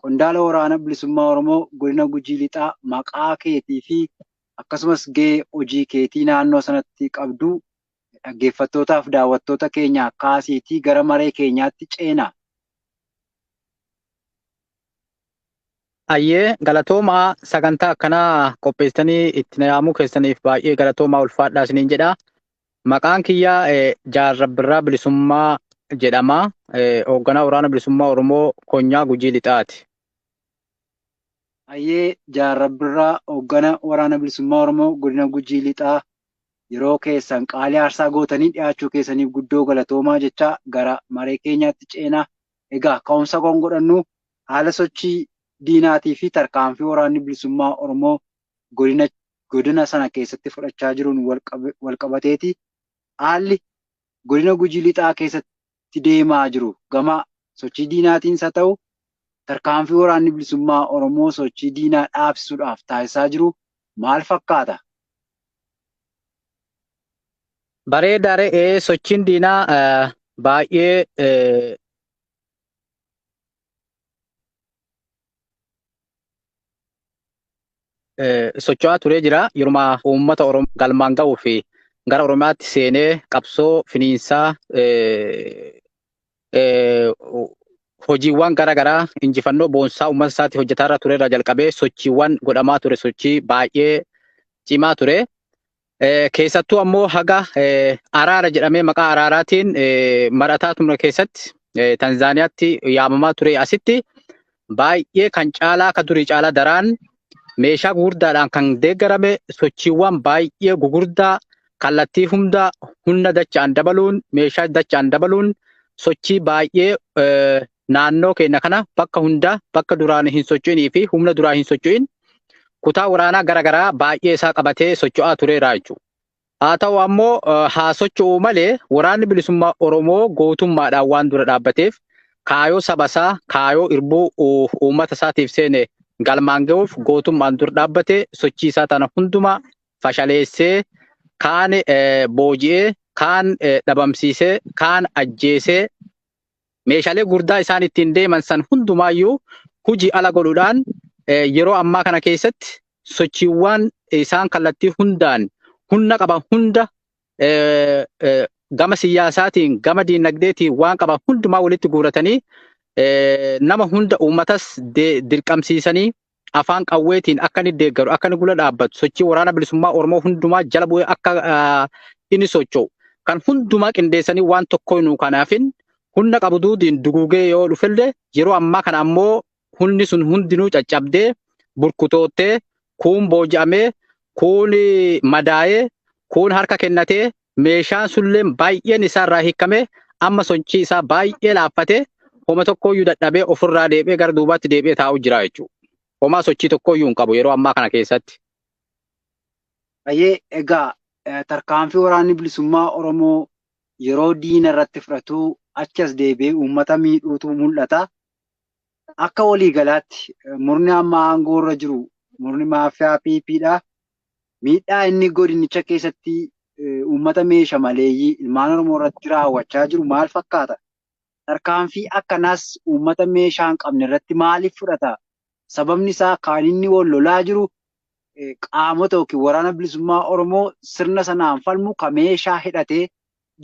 Qondaala Waraana Bilisummaa Oromoo Godina Gujii Lixaa maqaa keetii fi akkasumas gahee hojii keetii naannoo sanatti qabdu dhaggeeffattootaa fi daawwattoota keenyaaf kaasiitii gara maree keenyaatti ceena. Hayyee galatoomaa sagantaa akkanaa qopheessitanii itti na yaamuu keessaniif baay'ee galatoomaa ulfaadhaa isiniin jedha. Maqaan kiyya Jaal Rabbirraa Bilisummaa jedhama. Hoogganaa Waraana Bilisummaa Oromoo Konyaa Gujii Lixaati. Hayyee Jaal Rabbirraa Hooggana Waraana Bilisummaa Oromoo Godina Gujii Lixaa yeroo keessan qaalii aarsaa gootanii dhiyaachuu keessaniif guddoo galatoomaa jechaa gara maree keenyaatti ceena. Egaa ka'umsa kan godhannu haala sochii diinaatii fi tarkaanfii waraanni bilisummaa Oromoo godina sana keessatti fudhachaa jiruun walqabateeti haalli godina Gujii Lixaa keessatti deemaa jiru gama sochii diinaatiinis haa ta'u tarkaanfii waraanni bilisummaa Oromoo sochii diinaa dhaabsisuudhaaf taasisaa jiru maal fakkaata? Bareedaa re'ee sochiin diinaa baay'ee socho'aa turee jira. Yeruma uummata Oromoo galmaan ga'uu fi gara Oromiyaatti seenee qabsoo finiinsaa hojiiwwan gara garaa injifannoo boonsaa uummata isaatti hojjetaa irra ture irraa jalqabee sochiiwwan godhamaa ture sochii baay'ee cimaa ture. Keessattuu ammoo haga araara jedhamee maqaa araaraatiin marataa ture keessatti Tanzaaniyaatti yaamamaa ture asitti baay'ee kan caalaa akka durii caalaa daraan meeshaa gugurdaadhaan kan deeggarame sochiiwwan baay'ee gugurdaa kallattii hunda humna dachaan dabaluun meeshaa dachaan dabaluun sochii baay'ee Naannoo keenya kana bakka hundaa bakka duraan hin socho'inii fi humna duraa hin socho'in kutaa waraanaa gara garaa baay'ee isaa qabatee socho'aa tureera jechuudha. Haa ta'u ammoo haa socho'u malee waraanni bilisummaa Oromoo gootummaadhaan waan dura dhaabbateef kaayoo saba isaa, kaayoo irbuu uummata isaatiif seene galmaan ga'uuf gootummaan dur dhaabbate sochii isaa tana hundumaa fashaleessee kaan booji'ee, kaan dhabamsiisee, kaan ajjeesee, Meeshaalee gurdaa isaan ittiin deeman san hundumaayyuu huji ala godhuudhaan yeroo ammaa kana keessatti sochiiwwaan isaan kallattii hundaan humna qaban hunda gama siyaasaatiin gama diinagdeetiin waan qaban hundumaa walitti guuratanii nama hunda uummatas dirqamsiisanii afaan qawweetiin akka inni deeggaru, akka inni gula dhaabbatu, sochii waraana bilisummaa Oromoo hundumaa jala bu'ee akka ah, inni socho'u kan hundumaa qindeessanii waan tokko hinuu kanaafin humna qabu duudiin duguugee yoo dhufellee yeroo ammaa kana ammoo humni sun hundinuu caccabdee burkutoottee kuun booji'amee kuun madaa'ee kuun harka kennatee Meeshaan sulleen baay'een isaa irraa hiikamee amma sochii isaa baay'ee laaffatee homa tokkooyyuu dadhabee ofirraa deebi'ee gara duubaatti deebi'ee taa'u jira jechuudha. Homaa sochii tokkooyyuu hin qabu yeroo ammaa kana keessatti. Baay'ee egaa tarkaanfii waraanni bilisummaa Oromoo yeroo diina irratti fudhatu achi as deebi'ee uummata miidhuutu mul'ata. Akka waliigalaatti murni amma aangoo irra jiru murni maafiyaa PP dha. Miidhaa inni godinicha keessatti uummata meesha maleeyyii ilmaan Oromoo irratti raawwachaa jiru maal fakkaata? Tarkaanfii akkanaas uummata meeshaa hin qabne irratti maaliif fudhata? Sababni isaa kan inni wal lolaa jiru qaamota yookiin Waraana Bilisummaa Oromoo sirna sanaan falmu kan meeshaa hidhatee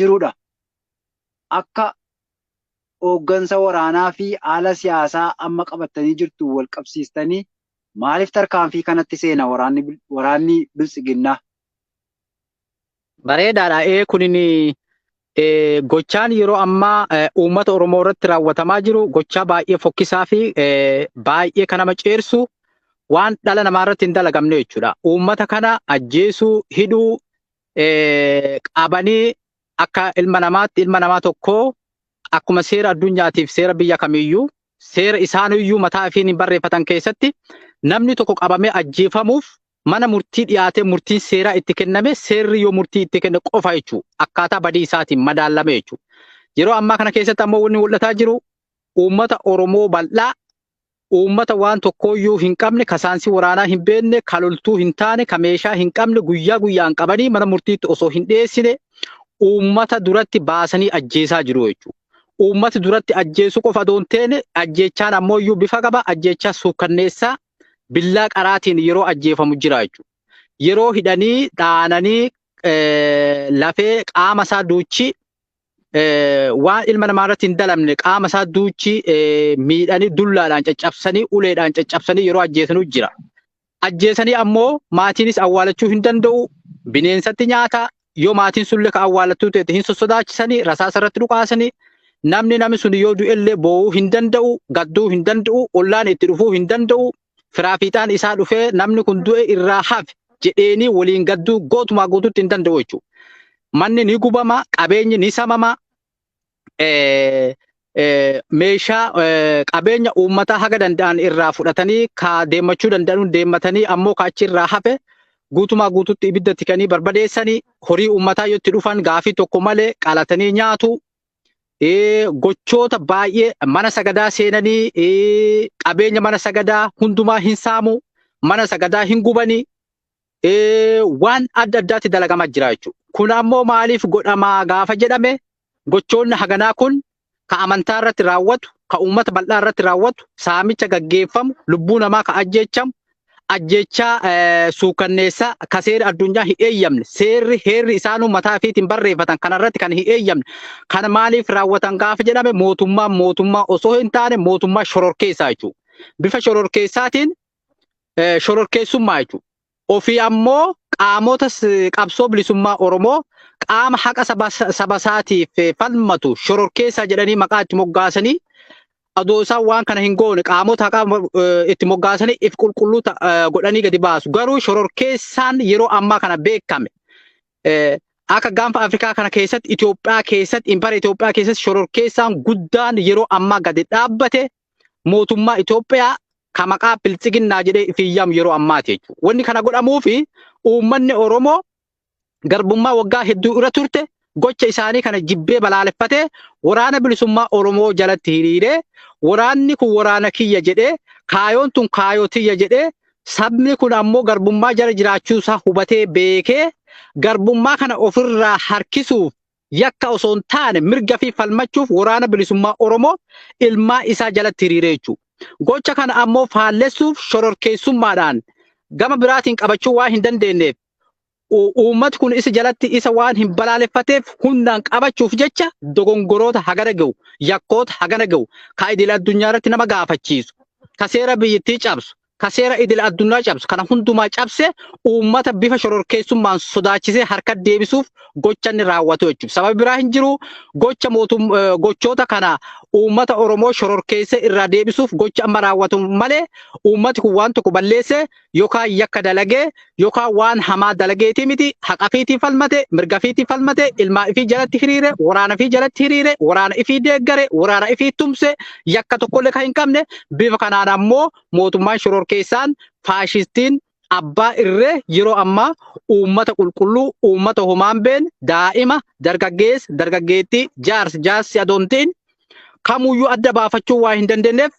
jirudha. Akka hooggansa waraanaa fi haala siyaasaa amma qabattanii jirtuun wal qabsiistanii Maaliif tarkaanfii kanatti seena waraanni Biltsiginnaa? Bareedaadha ee kunin gochaan yeroo ammaa uummata Oromoo irratti raawwatamaa jiru gochaa baay'ee fokkisaa fi baay'ee kan nama ceersu waan dhala namaa irratti hin dalagamne jechuudha. Uummata kana ajjeesuu, hidhuu, qabanii akka ilma namaatti ilma namaa tokkoo akkuma seera addunyaatiif seera biyya kamiiyyuu seera isaaniyyuu mataa ifiin barreeffatan keessatti namni tokko qabamee ajjeefamuuf mana murtii dhiyaatee murtiin seeraa itti kenname seerri yoo murtii itti kenne qofa jechuudha. Akkaataa badii isaatiin madaalame jechuudha. Yeroo ammaa kana keessatti ammoo wanni mul'ataa jiru uummata Oromoo bal'aa uummata waan tokkooyyuu hin qabne ka saansii waraanaa hin beekne ka loltuu hin taane ka meeshaa hin qabne guyyaa guyyaan qabanii mana murtiitti osoo hin dhiyeessine uummata duratti baasanii ajjeesaa jiru jechuudha. uummata duratti ajjeesuu qofa osoo hin taane ajjeechaan ammoo iyyuu bifa qaba ajjeechaa suukkanneessaa billaa qaraatiin yeroo ajjeefamu jira jechuudha. Yeroo hidhanii dhaananii eh, lafee qaama isaa duuchi eh, waan ilma namaa irratti hin dalamne qaama isaa duuchi eh, miidhanii dullaadhaan caccabsanii uleedhaan caccabsanii yeroo ajjeesanu jira. ajjeesanii ammoo maatiinis awwaalachuu hin danda'u bineensatti nyaata yoo maatiin sulle ka awwaalattuu ta'e hin sossodaachisanii rasaasa irratti dhukaasanii namni namni sun yoo du'ellee boo'uu hin danda'u gadduu hin danda'u ollaan itti dhufuu hin danda'u firaa fiixaan isaa dhufee namni kun du'e irraa hafe jedheenii waliin gadduu gootumaa guutuutti hin danda'u jechuudha. Manni ni gubama, qabeenyi ni samama, eh, eh, meeshaa eh, qabeenya uummataa haga danda'an irraa fudhatanii ka deemmachuu danda'an deemmatanii ammoo ka achi irraa hafe guutumaa guututti ibidda itti kanii barbadeessanii horii uummataa yoo itti dhufan gaafii tokko malee qalatanii nyaatu. Eh, Gochoota baay'ee mana sagadaa seenanii eh, qabeenya mana sagadaa hundumaa hin saamu. Mana sagadaa hin gubanii. waan adda addaatti dalagamaa jira jechuudha. Kun ammoo maaliif godhamaa gaafa jedhame gochoonni haganaa kun ka amantaa irratti raawwatu, ka uummata bal'aa irratti raawwatu, saamicha gaggeeffamu, lubbuu namaa ka ajjeechamu, ajjeechaa suukanneessaa ka seera addunyaa hin eeyyamne, seerri heerri isaanuu mataa ifiitiin barreeffatan kana irratti kan hin eeyyamne, kana maaliif raawwatan gaafa jedhame mootummaan mootummaa osoo hin taane mootummaa shororkeessaa jechuudha. Bifa shororkeessaatiin eh, shororkeessummaa jechuudha. Ofii ammoo qaamota s- qabsoo bilisummaa Oromoo qaama haqa saba saba isaatiif eh, falmatu shororkeessaa jedhanii maqaa itti moggaasanii adoo isaan waan kana hin goone qaamota haqaa eh, itti moggaasanii if qulqulluu ta- eh, godhanii gadi baasu. Garuu shororkeessaan yeroo ammaa kana beekame. Eh, Akka gaanfa Afrikaa kana keessatti Itoophiyaa keessatti impara Itoophiyaa keessatti shororkeessaan guddaan yeroo ammaa gadi dhaabbate mootummaa Itoophiyaa ka maqaa biltsiginnaa jedhee ifiin yaamu yeroo ammaati jechuudha. Wanni kana godhamuufi uummanni Oromoo garbummaa waggaa hedduu irra turte gocha isaanii kana jibbee balaaleffatee waraana bilisummaa Oromoo jalatti hiriiree waraanni kun waraana kiyya jedhee kaayoon tun kaayoo tiyya jedhee sabni kun ammoo garbummaa jala jiraachuu isaa hubatee beekee garbummaa kana ofirraa harkisuuf yakka osoo hin taane mirga fi falmachuuf waraana bilisummaa Oromoo ilmaa isaa jalatti hiriiree jechuu. Gocha kana ammoo faallessuuf shororkeessummaadhaan gama biraatiin qabachuu waan hin dandeenyeef uummati kun isa jalatti isa waan hin balaaleffateef hundaan qabachuuf jecha dogongoroota hagana ga'u yakkoota hagana ga'u ka idil addunyaa irratti nama gaafachiisu ka seera biyyittii cabsu ka seera idil addunyaa cabsu kana hundumaa cabse uummata bifa shororkeessummaan sodaachisee harka deebisuuf gocha inni raawwatu jechuudha. Sababi biraa hin jiru gocha mootum eh, gochoota kana uummata Oromoo shororkeessee irraa deebisuuf gocha amma raawwatu malee uummati kun waan tokko balleesse yookaan yakka dalagee yookaan waan hamaa dalageetii miti haqa fiitii falmate mirga fiitii falmate ilmaa ifii jalatti hiriire waraana ifii jalatti hiriire waraana ifii deeggare waraana ifii tumse yakka tokkollee kan hin qabne bifa kanaan ammoo mootummaan shororkeessaan faashistiin abbaa irree yeroo ammaa uummata qulqulluu uummata homaan been daa'ima dargaggeessa dargaggeettii jaarsa jaarsi adoontiin kamuyyuu adda baafachuu waa hin dandeenyeef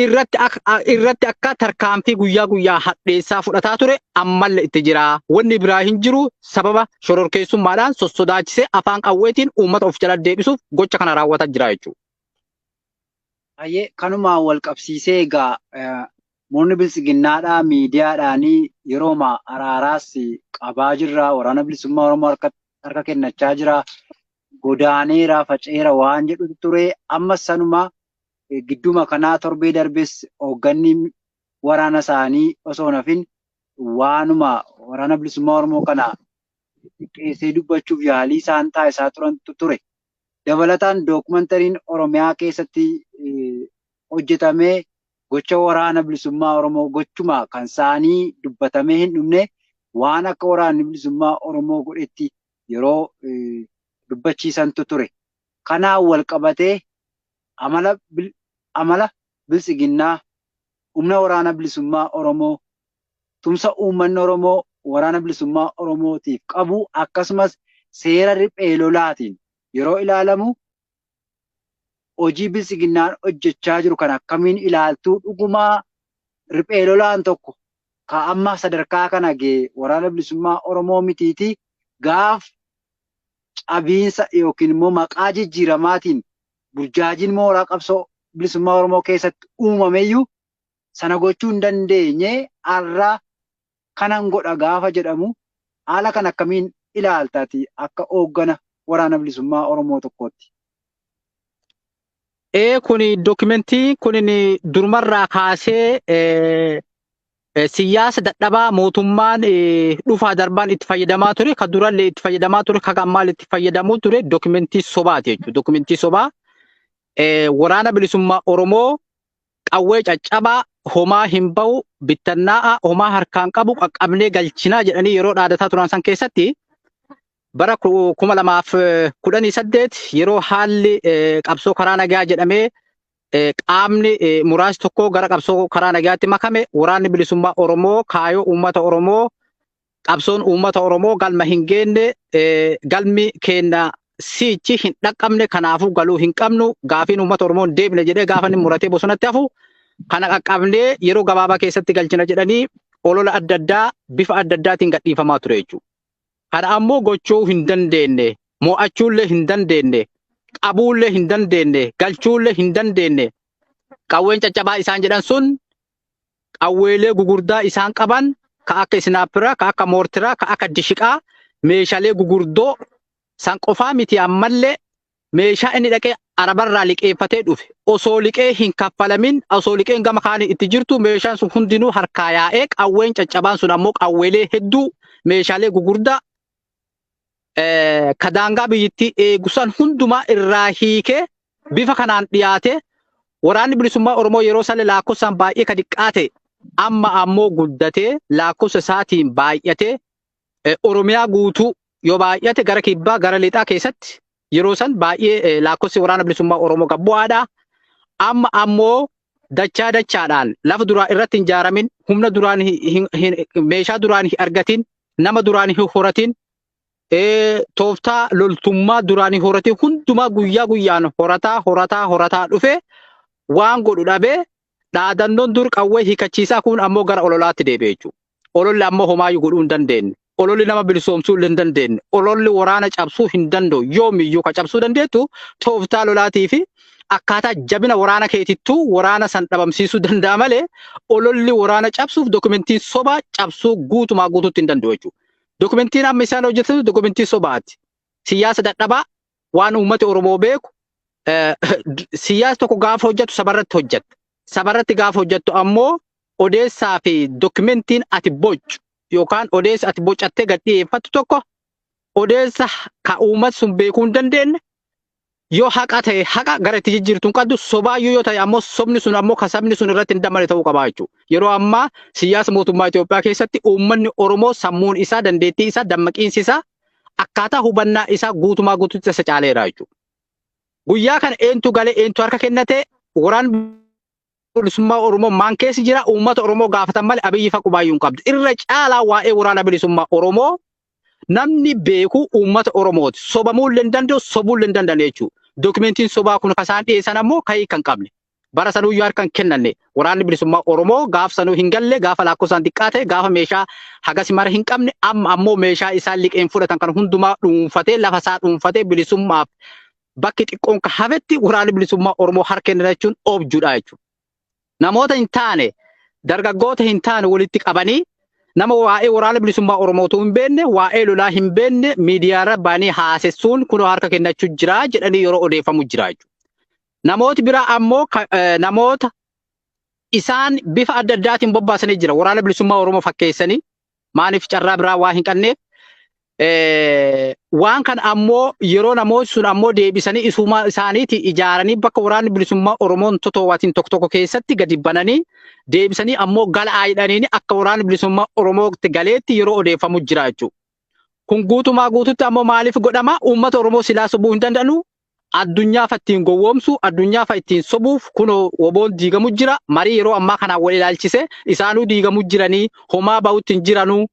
irratti ak- a- irratti akka tarkaanfii guyyaa guyyaa hadheessaa fudhataa ture ammalle itti jira. Wanni biraa hin jiru sababa shororkeessummaadhaan sossodaachisee afaan qawweetiin uummata of jala deebisuuf gocha kana raawwataa jira jechuudha. Ayyee kanumaa wal qabsiisee egaa eh, murni biltsiginnaadhaa miidiyaadhaanii yerooma araaraas qabaa jirra waraana bilisummaa Oromoo harka, harka kennachaa jira godaaneera faceera waan jedhutu ture amma sanuma Gidduma kanaa torbee darbes hoogganni waraana isaanii osoo hin hafin waanuma Waraana Bilisummaa Oromoo kana xiqqeessee dubbachuuf yaalii isaan taasisaa turantu ture. Dabalataan dookumantariin Oromiyaa keessatti hojjetame gocha Waraana Bilisummaa Oromoo gochuma kan isaanii dubbatamee hin dhumne waan akka Waraanni Bilisummaa Oromoo godhetti yeroo dubbachiisantu ture. Kanaan wal qabatee Amala Biltsiginnaa Humna Waraana Bilisummaa Oromoo, tumsa uummanni Oromoo Waraana Bilisummaa Oromootiif qabu akkasumas seera riphee lolaatiin yeroo ilaalamu hojii Biltsiginnaan hojjechaa jiru kana akkamiin ilaaltuu? Dhuguma riphee lolaan tokko ka amma sadarkaa kana ga'e Waraana Bilisummaa Oromoo mitiitii gaaf cabiinsa yookiin immoo maqaa jijjiiramaatiin burjaajiin mooraa qabsoo bilisummaa Oromoo keessatti uumameyyuu sana gochuu hin dandeenye har'a kanan godha gaafa jedhamu haala kan akkamiin ilaalta ati akka hooggana waraana bilisummaa Oromoo tokkootti? Ee kuni dookimentii kunin durumarraa kaasee Siyaasa dadhabaa mootummaan dhufaa darbaan itti fayyadamaa ture, kan durallee itti fayyadamaa ture, kan ammaallee itti fayyadamaa ture dokumentii sobaati jechuudha. Dokumentii sobaa waraana bilisummaa Oromoo qawwee caccabaa homaa hin ba'u bittannaa'a homaa harkaan qabu qaqqabnee galchinaa jedhanii yeroo dhaadataa turan san keessatti bara kuma lamaaf kudhanii saddeet yeroo haalli qabsoo karaa nagaa jedhamee qaamni muraas tokko gara qabsoo karaa nagaatti makame waraanni bilisummaa Oromoo kaayoo uummata Oromoo qabsoon uummata Oromoo galma hin geenne galmi keenna siichi hin dhaqqabne kanaafuu galuu hin qabnu gaafiin uummata Oromoo hin deebine jedhee gaafa inni muratee bosonatti hafu kana qaqqabnee yeroo gabaabaa keessatti galchina jedhanii olola adda addaa bifa adda addaatiin gadhiifamaa ture jechuudha. Kana ammoo gochuu hin dandeenne, moo'achuullee hin dandeenne, qabuullee hin dandeenne, galchuullee hin dandeenne. Qawween caccabaa isaan jedhan sun qawweelee gugurdaa isaan qaban ka akka isnaappiraa, ka akka moortiraa, ka akka dishiqaa, meeshalee gugurdoo san qofaa miti ammallee meeshaa inni dhaqee arabarraa liqeeffatee dhufe osoo liqee hin kaffalamin osoo liqeen gama kaanii itti jirtu meeshaan sun hundinuu harkaa yaa'ee qawween caccabaan sun ammoo qawweelee hedduu meeshaalee gugurdaa eh, ka daangaa biyyittii eegusan hundumaa irraa hiikee bifa kanaan dhiyaatee waraanni bilisummaa Oromoo yeroo sana laakkofsaan baay'ee ka diqqaa ta'e amma ammoo guddatee laakkofsa isaatiin baay'atee eh, Oromiyaa guutuu yoo baay'ate gara kibbaa gara lixaa keessatti yeroo san baay'ee eh, laakkofsi waraana bilisummaa Oromoo gad bu'aadha. Amma ammoo dachaa dachaadhaan lafa duraa irratti hin ijaaramin, humna duraan hin- hin- hin- meeshaa duraan hin argatin, nama duraan hin horatin, eh, tooftaa loltummaa duraan hin horatin hundumaa guyyaa guyyaan horataa horataa horataa dhufe waan godhu dhabee Dhaadannoon dur qawwee hiikachiisaa kun ammoo gara ololaatti deebi'e jechuudha. Ololli ammoo homaayyuu godhuu hin dandeenye. Ololli nama bilisoomsuu illee hin dandeenye. Ololli waraana cabsuu hin danda'u. Yoomiyyuu ka cabsuu dandeettu tooftaa lolaatii fi akkaataa jabina waraana keetittuu waraana san dhabamsiisuu danda'a malee ololli waraana cabsuuf dokumentiin sobaa cabsuu guutumaa guutuutti hin danda'u jechuudha. Dokumentiin amma isaan hojjetan dokumentii sobaati. Siyaasa dadhabaa waan uummati Oromoo beeku siyaas tokko gaafa hojjettu sabarratti hojjetta. Sabarratti gaafa hojjettu ammoo odeessaa fi dokumentiin ati bocu yookaan odeessa ati bocattee gad dhiyeeffattu tokko odeessa ka uummati sun beekuu hin dandeenye yoo haqa ta'e haqa gara itti jijjiirtu hin qabdu sobaayyuu yoo ta'e ammoo sobni sun ammoo ka sabni sun irratti hin dammane ta'uu qabaa jechuudha. Yeroo ammaa siyaasa mootummaa Itoophiyaa keessatti uummanni Oromoo sammuun isaa dandeettii isaa dammaqiinsi isaa akkaataa hubannaa isaa guutumaa guututti isa caaleera jechuudha. Guyyaa kana eentu galee eentu harka kennatee waraan bilisummaa Oromoo maan keessi jira uummata Oromoo gaafatan malee abiyyi faqubaayyuu hin qabdu. Irra caalaa waa'ee waraana bilisummaa Oromoo namni beeku uummata Oromooti. Sobamuu illee hin danda'u, sobuu illee hin danda'an jechuudha. Dookumentiin sobaa kun kan isaan dhiyeessan ammoo ka'ii kan qabne. bara sanuu iyyuu harka hin kennanne waraanni bilisummaa Oromoo gaaf sanuu hin galle gaafa laakkofsaan xiqqaa ta'e gaafa meeshaa hagasi mara hin qabne amma ammoo meeshaa isaan liqeen fudhatan kan hundumaa dhuunfatee lafa isaa dhuunfatee bilisummaaf bakki xiqqoon ka hafetti waraanni bilisummaa Oromoo harka kennana jechuun objuudha jechuudha. Namoota hin taane dargaggoota hin taane walitti qabanii nama waa'ee waraana bilisummaa Oromootuu hin beekne waa'ee lolaa hin beekne miidiyaarra baanii haasessuun kunoo harka kennachuu jira jedhanii yeroo odeeffamu jira jechuudha. Namooti biraa ammoo ka- eh, namoota isaan bifa adda addaatiin bobbaasanii jira. Waraana bilisummaa Oromoo fakkeessanii maaliif carraa biraa waa hin qabneef Eh, waan kan ammoo yeroo namooti sun ammoo deebisanii isuma isaaniiti ijaaranii bakka waraanni bilisummaa Oromoon totoowatiin tokko tokko keessatti gadi bananii deebisanii ammoo gala aayidhaniini akka waraanni bilisummaa Oromootti galeetti yeroo odeeffamu jira jechuudha. Kun guutumaa guututti ammoo maaliif godhama? Uummata Oromoo silaa sobuu hin danda'anu, Addunyaa fa ittiin gowwoomsuu, addunyaa fa ittiin sobuuf kunoo wbon diigamu jira, marii yeroo ammaa kanaan wal ilaalchise isaanuu diigamu jiranii, homaa bahutti hin jiranuu,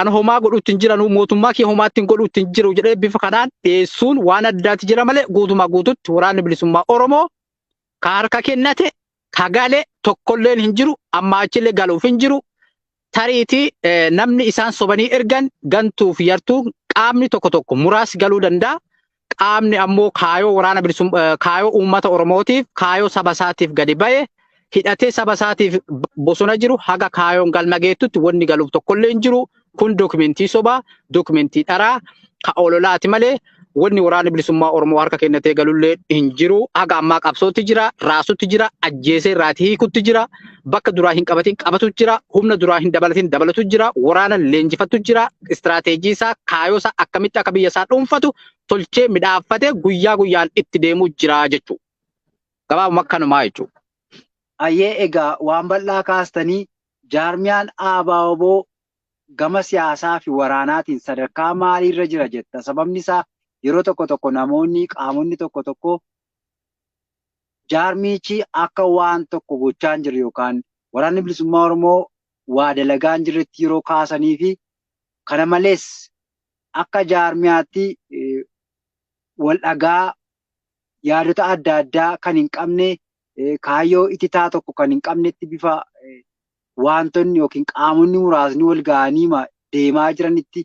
an homaa godhutti hin jiranuu, mootummaa kiyya homaatti hin godhutti hin jiru jedhee bifa kanaan dhiyeessuun waan addaati jira malee guutumaa guututti waraanni bilisummaa Oromoo ka harka kennate kagale tokkolleen hin jiru ammaa achillee galuuf hin jiru tariitii eh, namni isaan sobanii ergan gantuuf yartuu qaamni tokko tokko muraasi galuu danda'a qaamni ammoo kaayoo waraana bilisum eh, kaayoo uummata oromootiif kaayoo saba isaatiif gadi ba'e hidhatee saba isaatiif b- bosona jiru haga kaayoon galma geettutti wanni galuuf tokkollee hin jiru Kun dokumentii sobaa, dokumentii dharaa, ka ololaati malee wanni waraana bilisummaa Oromoo harka kennatee galullee hin jiru. Haga ammaa qabsootti jira, raasutti jira, ajjeesee irraati hiikutti jira, bakka duraa hin qabatin qabatu jira, humna duraa hin dabalatin dabalatu jira, waraana leenjifatu jira, istiraateejii isaa, kaayoo isaa akkamitti akka biyya isaa dhuunfatu tolchee midhaaffatee guyyaa guyyaan itti deemuu jira jechuu. Gabaabuma kanumaa jechuu. Ayyee egaa waan bal'aa kaastanii Jaarmiyaan ABO-wbo gama siyaasaa fi waraanaatiin sadarkaa maalii irra jira jetta? Sababni isaa yeroo tokko tokko namoonni, qaamonni tokko tokko jaarmiyichi akka waan tokko gochaa hin jirre yookaan Waraanni Bilisummaa Oromoo waa dalagaa hin jirretti yeroo kaasanii fi kana malees akka jaarmiyaatti wal dhagaa yaadota adda addaa kan hin qabne kaayyoo ititaa tokko kan hin qabnetti bifa waantonni yookiin qaamonni muraasni wal ga'aniima deemaa jiranitti